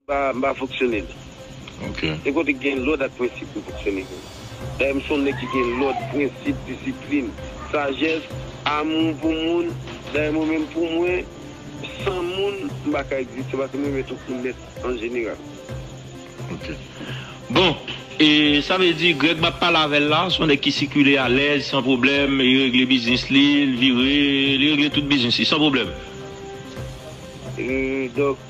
M pa fonksyone li. Se kote ki gen lòd ak prensip m fonksyone vre. Dayè m se yon nèg ki gen lòd, prensip, disiplin, sajès, amou pou moun. Dayè mwen menm pou mwen, san moun m pa ka egziste paske m renmen tout moun nèt an jeneral. Ok. Bon, e sa vle di Greg m ap pale avè l la se yon nèg ki sikile alèz, san pwoblèm, li regle biznis li, li vire, li regle tout biznis li san pwoblèm? Donk.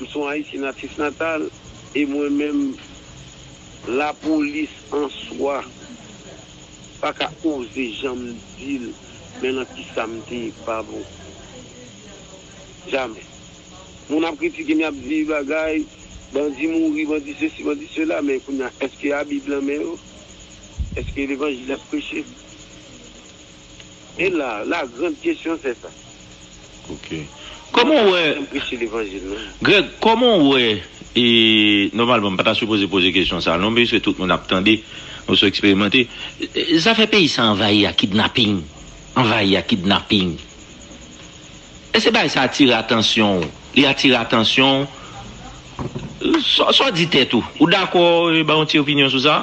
M son ayisyen natif natal e mwen menm la polis an swa pa ka oze janm dil men lan kisa m te pa bon jamè moun ap kritike m yap di bagay bandi mouri bandi sesi bandi sela men kounya eske a bib lan men yo eske levanjil yap preche. E la, la grande question c'est ça. Ok. Kòman w wè. Janm preche levanjil non. Greg, kòman w wè e nòmalman m pa ta sipoze poze kesyon sa non piske tout moun ap tande, nou sou eksperimante. Zafè peyi sa anvayi ak kidnaping, anvayi ak kidnaping. Èske bagay sa atire atansyon w? Li atire atansyon w? Sa w di tèt ou? Ou dakò e ba yon ti opinyon sou sa?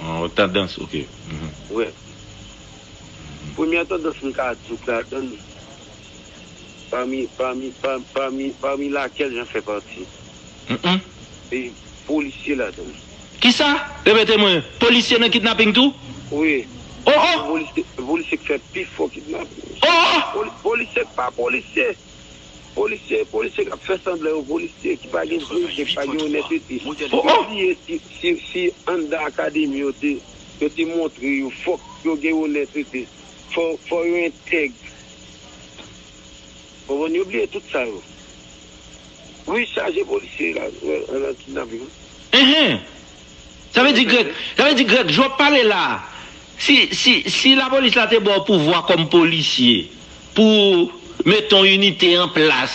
Yon tandans ok uhmm. Wè. Premyè tandans m ka di w k ladan l pami pami pami pami lakèl jan fè pati. Uhmm. Se polisye ladan l. Kisa? Repete mwen, polisye nan kidnaping tou? Wi. Oh oh! Se polisye k fè pifò kidnaping. Oh oh! Polisye k pa polisye. Polisye e polisye kap fè sanblan yo polisye ki pa gen diyite ki pa gen onètete ou bliye si anndan akademi yo te yo te montre yo fòk yo gen onètete fò yo entèg ou konprann yo bliye tout sa yo wi chaje polisye la nan kidnaping. Sa vle di Greg, sa vle di Greg, jan wap pale la, si, si, si lapolis la te baw pouvwa kòm polisye pou ou mete yon inite an plas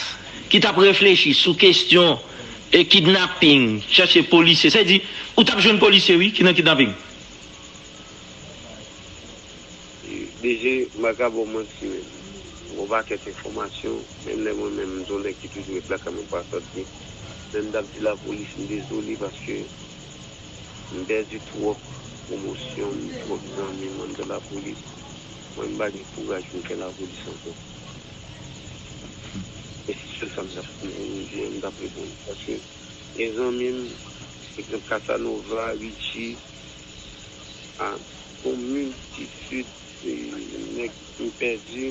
ki tap reflechi sou kestyon e kidnaping, chache polisye, sa vle di ou tap jwenn polisye wi ki nan kidnaping. DG, m pa ka ba w manti men, m gen yon pakèt enfòmasyon, menm lè mwen menm m se yon nèg ki toujou ret lakay mwen pa sòti, men m t ap di lapolis m dezole paske m pèdi twòp pwomosyon m, twòp zanmi m anndan lapolis, mwen m pa gen kouraj pou m fè lapolis ankò. E se sèl sa m t ap konn pou m di an, m t ap reponn paske gen zanmi m, egzanp Casanova, Richie, a bon multitude nèg m pèdi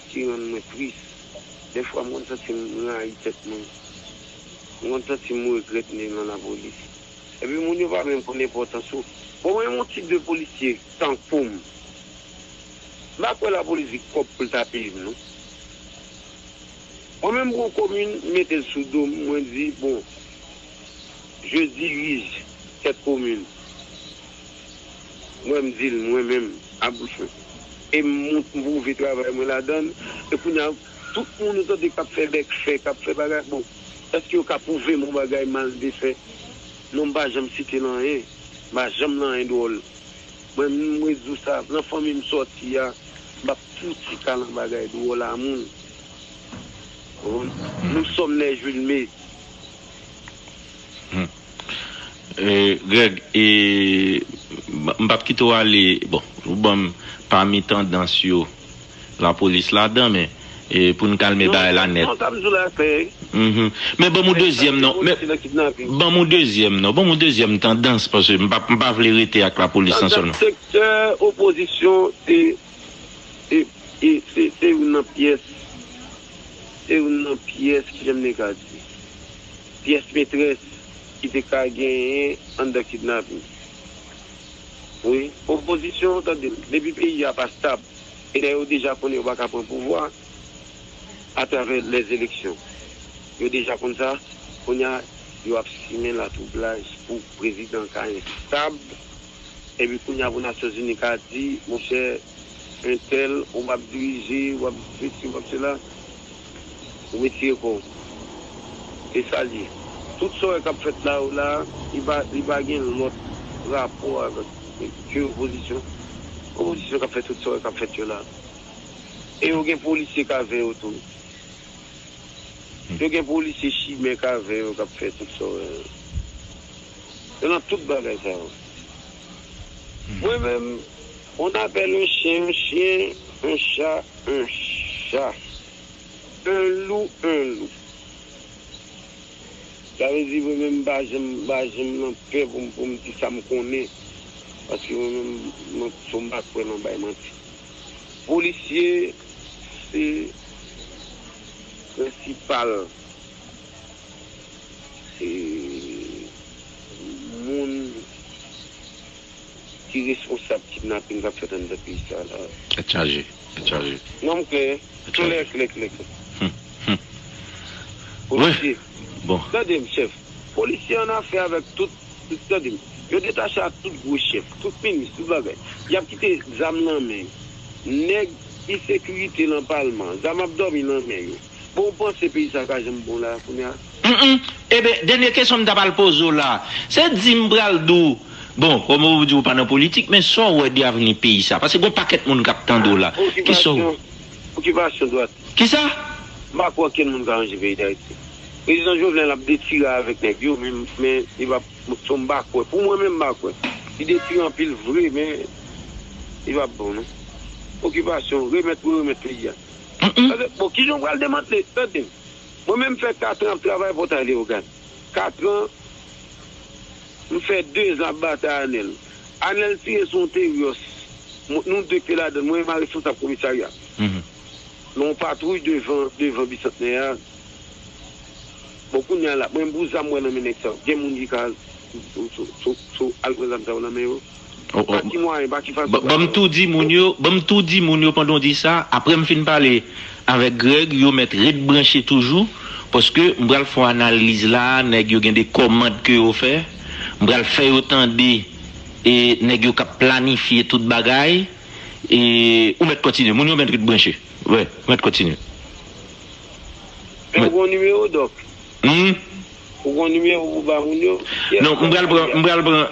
ki rann mwen tris dèfwa m konn santi m rayi tèt mwen m konn santi m regrèt m te nan lapolis epi moun yo pa menm konn enpòtans ou bon mwen yon tip de polisye tankou m m pa kwè lapolis gen kòb pou l ta peye m non mwen menm m pran komin m mete l sou do m mwen di bon. Je dirige cette commune mwen m di l mwen menm a bouch mwen e m pwouve travay mwen ladan l e kounye a tout moun ou tande k ap fè bèk fè k ap fè bagay bon èske yo ka pwouve m yon bagay m al defè non m pa janm site l anyen m pa janm nan anyen dwòl mwen m rete di w sa nan fanmi m sòti a m p ap fouti ka nan bagay dwòl a moun ou konprann m Somnè Julme Greg e m pap kite w ale bon ou ban m pami tandans yo lapolis ladan men pou n kalme bagay la nèt men ban m yon dezyèm non ban m yon dezyèm non ban m yon dezyèm tandans paske m pa vle rete ak lapolis lan sèlman. Se youn nan pyès Se youn nan pyès Ki jan m te ka di Pyès metrès Ki te ka genyen anndan kidnapin Wi Opozisyon tande m depi peyi a pa stab e lè yo deja konnen yo pa ka pran pouvwa atravè lèzeleksyon yo deja konn sa kounye a yo ap simen latwoublaj pou prezidan ka enstab. Epi kounya pou Nasyonzini ka di, monchè entèl ou ap dirije, ou ap sesi, ou ap sela, ou retire kò w. Se sa l ye. Tout sa w wè k ap fèt la yo la, li pa gen lòt rapò avèk ke opozisyon. Opozisyon k ap fè tout sa w wè k ap fèt yo la. E yo gen polisye k avè yo tou. Yo gen polisye chimè k avè yo k ap fè tout sa w wè yo. nan tout bagay sa yo. Mwen menm, on apèl on chyen on chyen, on cha on cha, on lou on lou. Sa vle di mwen menm m pa janm m pa janm nan pè pou m pou m di sa m konnen paske mwen menm mwen fò m pa kwè nan bay manti. Polisye se prensipal Se moun ki responsab kidnaping kap fèt anndan peyi sa la. Tèt chaje, tèt chaje. Non m klè, klè, klè, klè, klè. Polisye, tande m chèf, polisye an afè avèk tout, tande m, yo detache ak tout gwo chèf, tout minis, tout bagay. Yap kite zam lan men yo. Nèg ki sekirite lan palman, zam ap dòmi lan men yo. Bon ou panse peyi sa ka janm bon la kounya? Mph eben dènye kesyon m ta pral poze w la se di m pral di w bon kòm ou di ou pa nan politik men sa w wè de avni peyi sa paske gon pakèt moun kap tande w la kisa w Okipasyon Okipasyon dwat Kisa? M pa kwè okenn moun ka ranje peyi Dayiti Prezidan Jovenel ap detire avèk nèg yo men men li pa m pa kwè pou mwen menm m pa kwè li detire anpil vre men li pa bon non Okipasyon remèt pou yo remèt peyi a. Tande, bon, kijan w pral demantle? Tande, mwen menm m fè katran ap travay Pòtay Leyogàn. Katran, m fè dezan ap batay Anèl. Anèl tire sou yon Teryòs. Mwen, nou de te ladann. Mwen e ma responsab komisarya. Gen yon patwouy devan, devan Bisantnè a. Bon, kounye a la, mwen menm pou zam mwen nan men nèg sa yo, gen moun ki ka sou, sou, sou al pran zam sa yo nan men yo? Pa ki mwayen, pa ki fason. Banm tou di moun yo, banm tou di moun yo pandan w di sa, aprè m fin pale avèk Greg, yo mèt ret branche toujou, paske m pral fè yon analiz la, nèg yo gen de kòmand ke yo fè, m pral fè yo tande e nèg yo k ap planifye tout bagay, e ou mèt kontinye, moun yo mèt ret branche, wi, mèt kontinye. Eske w gen yon nimewo, Dòk? Humm. Ou gon numéro pou ba moun yo? Non m pral pran m pral pran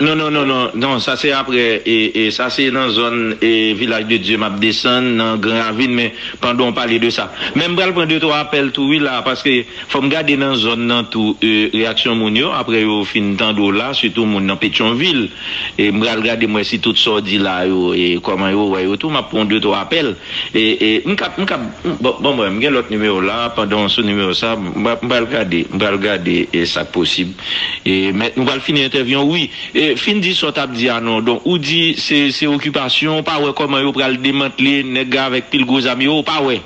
non non non non non sa se aprè e sa se nan zòn e vilaj de Dye map desann nan gran ravin men pandan w pale de sa men m pral pran de twa apèl tou wi la paske fòm gade nan zòn nan tou e reyaksyon moun yo aprè yo fin tande w la sitou moun nan petyonvil e m pral gade m wè si tout sa w di la yo e kòman yo wè yo tou map pran w de twa apèl. E e m kap m kap bon bon mwen m gen lòt nimewo la pandan w sou nimewo sa m m pral gade m pral gade e sa k posib e men nou pral fini entèvyou an wi e fin di sa w tap di a non don ou di se se okipasyon w pa wè kòman yo pral demantle nèg ga avèk pil gwo zam yo w pa wè.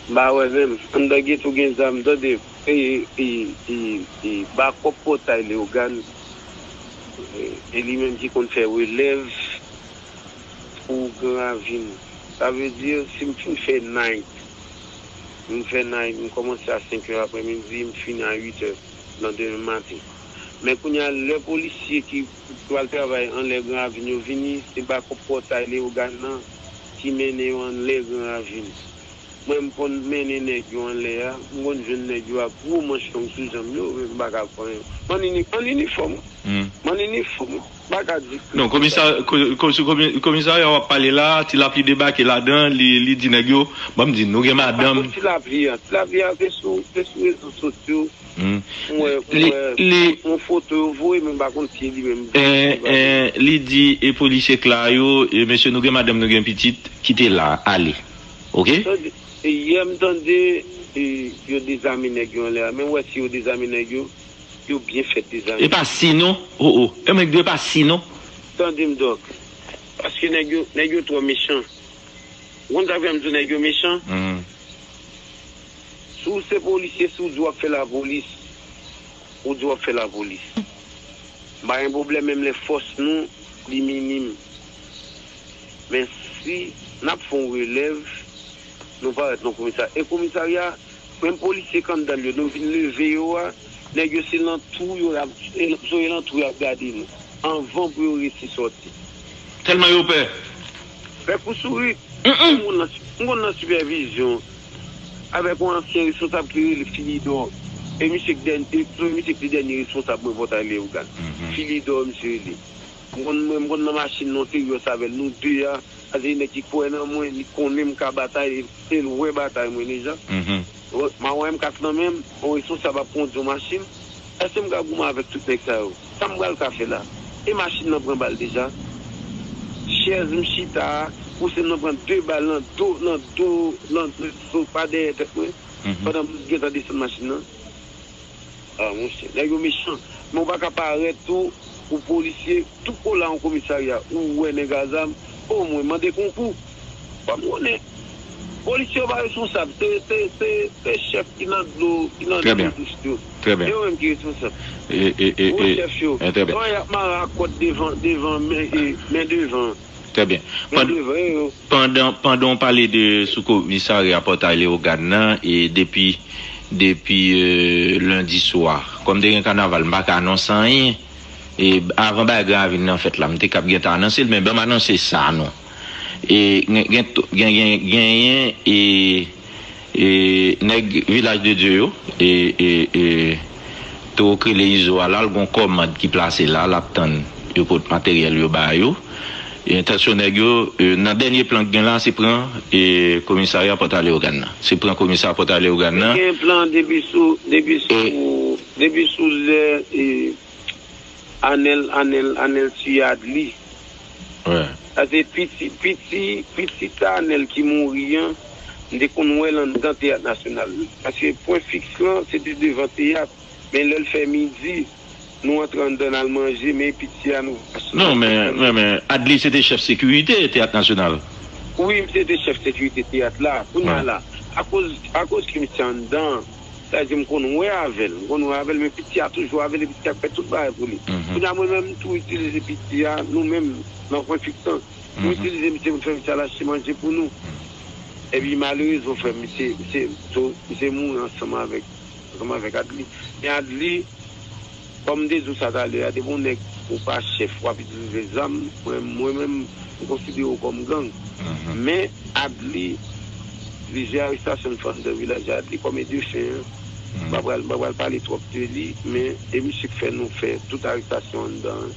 M pa wè menm anndan ghetto w gen zam tande e e e e bakòp pòtay Leogane e li menm ki konn fè relèv. pou gran lavi nou. Sa vle di si m fin fè night, m fè night, m kòmanse a 5 è aprè midi, m fini a 8 è nan demen maten. Men kounye a lè polisye ki pral travay anlè gran ravin yo vini, se bakòp pòtay Leyogàn nan ki mennen yo anlè gran ravin. Mwen m konn mennen nèg yo anlè a, m konn jwenn nèg yo ak gwo manch long sou janm yo, men m pa ka pran yo. M ann inifòm, m ann inifòm. Non komisa komisarya wap pale la ti lapli debake ladan li di nèg yo banm di nou gen madanm. Pako ti lapli an ti lapli an se sou se sou rezo sosyo m wè m wè yon foto yo voye men m pa konn si li menm li pale. Li di e polisye kla yo e mesye nou gen madanm nou gen pitit kite la ale ok. Yè m tande yo dezame nèg yo anlè a men wè si yo dezame nèg yo. yo byen fèt li zanmi. Epa si non oh oh yo menm di epa si non. Tandem Doc. Paske nèg yo nèg yo twò mechan. Ou konn sak fèm di w nèg yo mechan? Si w se polisye si w di wap fè lapolis ou di wap fè lapolis m pa gen pwoblèm menm lè fòs nou li minim men si nap fon relèv nou parèt nan komisarya e komisarya Menm polisye kandal yo nou vin leve yo a nèg yo se lan twou yo yap sore lan twou yap gade nou anvan pou yo resi sòti. Tèlman yo pè. Pè kou sourit. Menm moun lan m konn nan sipèvizyon avèk yon ansyen responsab ki rele Filidò e misye k dèn e e misye k te dènye responsab mwen Pòtay Leyogàn. Filidò misye rele. M konn mwen m konn nan machin nan w te rios avè l nou de a Sa vle di nèg ki kwè nan mwen li konnen m ka batay e l wè batay mwen deja. Ma wè M4 nan men m, yon responsab ap kondi yon machin. Èske m ka goumen avèk tout nèg sa yo? Sa m pral ka fè la? E machin nan pran bal deja. Chèz m chita a, kousen m nan pran 2 bal nan do, nan do, nan do, pa dèyè tèt mwen, pandan m gentan desann machin nan. Ah monchè nèg yo mechan men ou paka parèt tou pou polisye tou kola yon komisarya ou wè nèg a zam oh mwen mande konkou banm konnen polisye yo pa responsab se se se se chèf ki nan dlo ki nan Trè dlo byen dous yo trè se byen yo menm ki responsab e e e gwo e chèf yo trè byen oh yap mare a kòd devan devan men e men devan. Trè byen. Nan devren yo. Pandan pandan w pale de sou komisarya Pòtay Lewogàn nan e depi depi lendi swa kòm te gen kanaval m pa ka anonse anyen e avan bagay Gran Ravin nan fèt la m te kab gentan anonse l men ban m anonse sa non e gen gen gen genyen e E nèg vilaj de Dye yo e e e toro k rele izo a la l gon kòmand ki plase la lap tann yo pot materyèl yo ba yo e entansyon nèg yo nan dènye plan k gen la se pran e komisarya pòta leogàn nan se pran komisa pòta leogàn nan. Yo gen plan depi sou depi sou depi sou lè e anèl anèl anèl tuyad li. Mwen. Sa se piti, piti, piti Tanel ki mouri an, m te konn wè l anndan Teyat Nasyonal. Paske pwen fiks lan se te devan teyat, men lè l fè midi, nou antre anndan n al manje, men piti a nou pa soti. Non, men, men, men, Adly se te chèf sekirite Teyat Nasyonal. Wi, misye te chèf sekirite teyat la. Kounye a la, akoz, akoz ke misye anndan. Sa vle di m konn wè avè l. M konn wè avè l men piti a toujou avè l e piti a k fè tout bagay pou li. Kounye a mwen menm m tou itilize piti a nou menm nan kwen Picton. M itilize misye pou m fè misye al achte manje pou nou. Epi malerezman frè m misye misye mouri ansanm avèk Adly. Men Adly. Kòm m te di w sa talè a, depi w nèg ou pa chèf w ap itilize zam, mwen menm m konsidere w kòm gang. Men, Adly, plizyè arestasyon l fè anndan vilaj Adly kòm edefen an, m pa pral pale twòp de li, men e misye k fè nou fè tout arestasyon anndan an.